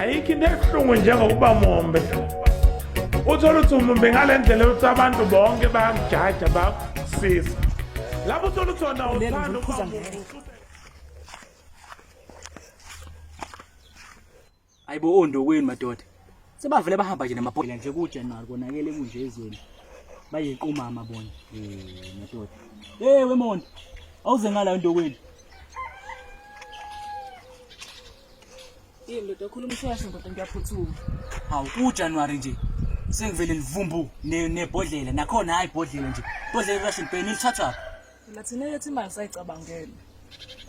ayikho into ebuhlungu njengokuba mombe uthole ukuthi umumbe ngale ndlela yokuthi abantu bonke bayakujaja bakusisa lapho uthole ukuthi wona uthanda ukuba Ayibo ondokweni madoda. Sebavele bahamba nje namabhodlela nje ku January konakele kunje ezweni. Bayiqumama bona. Eh madoda. Eh wemonto. Awuze ngala ondokweni. Yini ndoda khuluma usheshe ndoda ngiyaphuthuma. Hawu ku January nje. Sengivele livumbu nebhodlela nakhona hayi ibhodlela nje. Ibhodlela kaShintbeni ilithatha. Phela thina yethi imali sayicabangele.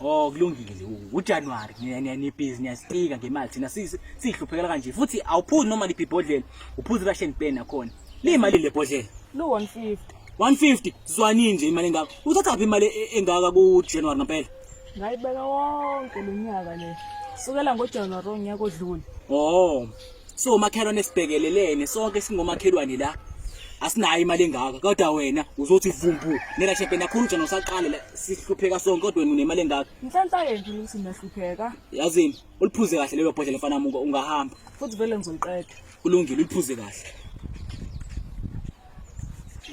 Oh kulungile uJanuary niyanipizi niyasitika ngemali thina sihluphekela kanje futhi awuphuzi noma liphi ibhodlela uphuza Russian pen nakhona limali lebhodlela lu 150 150 sizwani nje imali engaka uthatha phi imali e-, engaka ku January ngempela ngayibeka wonke lonyaka le sukela ngoJanuary onyaka odlule oh so makhelwane sibhekelelene sonke singomakhelwane la asinayo imali engaka kodwa wena uzothi vumbu nela shempe nakhulu njena usaqale la sihlupheka sonke kodwa wena unemali engaka Inhlanhla yethu ukuthi nahlupheka yazini uliphuze kahle lelo bhodlela mfana munga ungahamba futhi vele ngizoliqeda. kulungile uliphuze kahle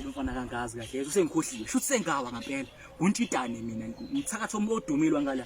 lo mfana kangazi kahle yezwa usengikhohliwe shuthi sengawa ngampela nguntidane mina ngithakatha omu odumile wangala